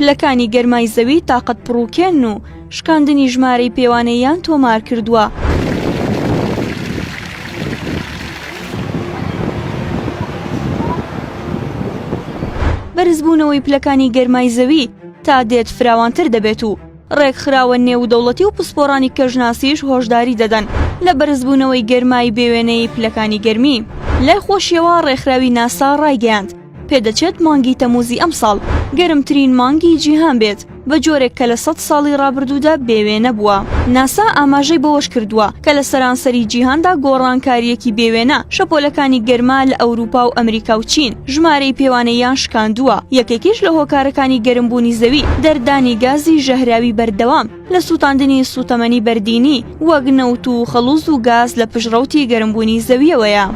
پلەکانی گەرمای زەوی تاقەت پڕووکێن و شکاندنی ژمارەی پێوانەییان تۆمار کردووە. بەرزبوونەوەی پلەکانی گەرمای زەوی تا دێت فراوانتر دەبێت و ڕێکخراوە نێودەوڵەتی و پسپۆڕانی کەژناسیش هۆشداری دەدەن لە بەرزبوونەوەی گەرمای بێوێنەی پلەکانی گەرمی. لای خۆشیەوە ڕێکخراوی ناسا ڕایگەیاند، پێدەچێت مانگی تەمووزی ئەمساڵ گەرمترین مانگی جیهان بێت بە جۆرێک کە لە سەد ساڵی ڕابردوودا بێوێ نەبووە ناسا ئاماژەی بەوەش کردووە کە لە سەرانسەری جیهاندا گۆڕانکاریەکی بێوێنە شەپۆلەکانی گەرما لە ئەوروپا و ئەمریکا و چین ژمارەی پێوانەیان شکاندووە یەکێکیش لە هۆکارەکانی گەرمبوونی زەوی دەردانی گازی ژەهراوی بەردەوام لە سووتاندنی سووتەمەنی بەردینی وەک نەوت و خەڵوز و گاز لە پشت ڕەوتی گەرمبوونی زەوییەوەیە.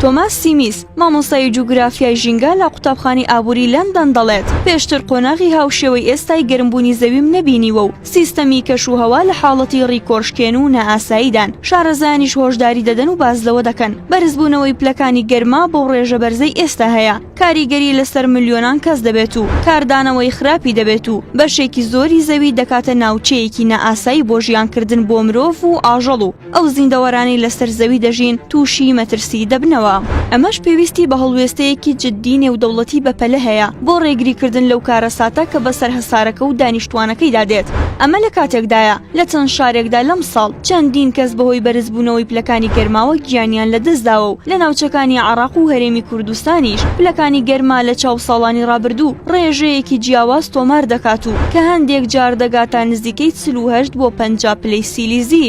تۆماس سیمیس، مامۆستای جوگرافیای ژینگە لە قوتابخانەی ئابووری لەندەن دەڵێت، پێشتر قۆناغی هاوشێوەی ئێستای گەرمبوونی زەویم نەبینیوە و سیستەمی کەشوهەوا لە حاڵەتی ڕیکۆشکێن و نائاساییدان، شارەزایانیش هۆشداری دەدەن و باس لەوە دەکەن، بەرزبوونەوەی پلەکانی گەرما بەو ڕێژە بەرزەی ئێستا هەیە. کاریگەری لەسەر ملیۆنان کەس دەبێت و کاردانەوەی خراپی دەبێت و بەشێکی زۆری زەوی دەکاتە ناوچەیەکی نائاسایی بۆ ژیانکردن بۆ مرۆڤ و ئاژەڵ و ئەو زیندەوەرانەی لەسەر زەوی دەژین تووشی مەترسی دەبنەوە. ئەمەش پێویستی بە هەڵوێستەیەکی جددی نێودەوڵەتی بەپەلە هەیە بۆ ڕێگریکردن لەو کارەساتە کە بەسەر هەسارەکە و دانیشتووانەکەیدا دێت، ئەمە لە کاتێکدایە، لە چەند شارێکدا لەمساڵ چەندین کەس بەهۆی بەرزبوونەوەی پلەکانی گەرماوە گیانیان لەدەستداوە و لە ناوچەکانی عەڕاق و هەرێمی کوردستانیش پلەکانی گەرما لە چاو ساڵانی ڕابردوو ڕێژەیەکی جیاواز تۆمار دەکات و کە هەندێک جار دەگاتە نزیکەی چل و هەشت بۆ پەنجا پلەی سیلیزی.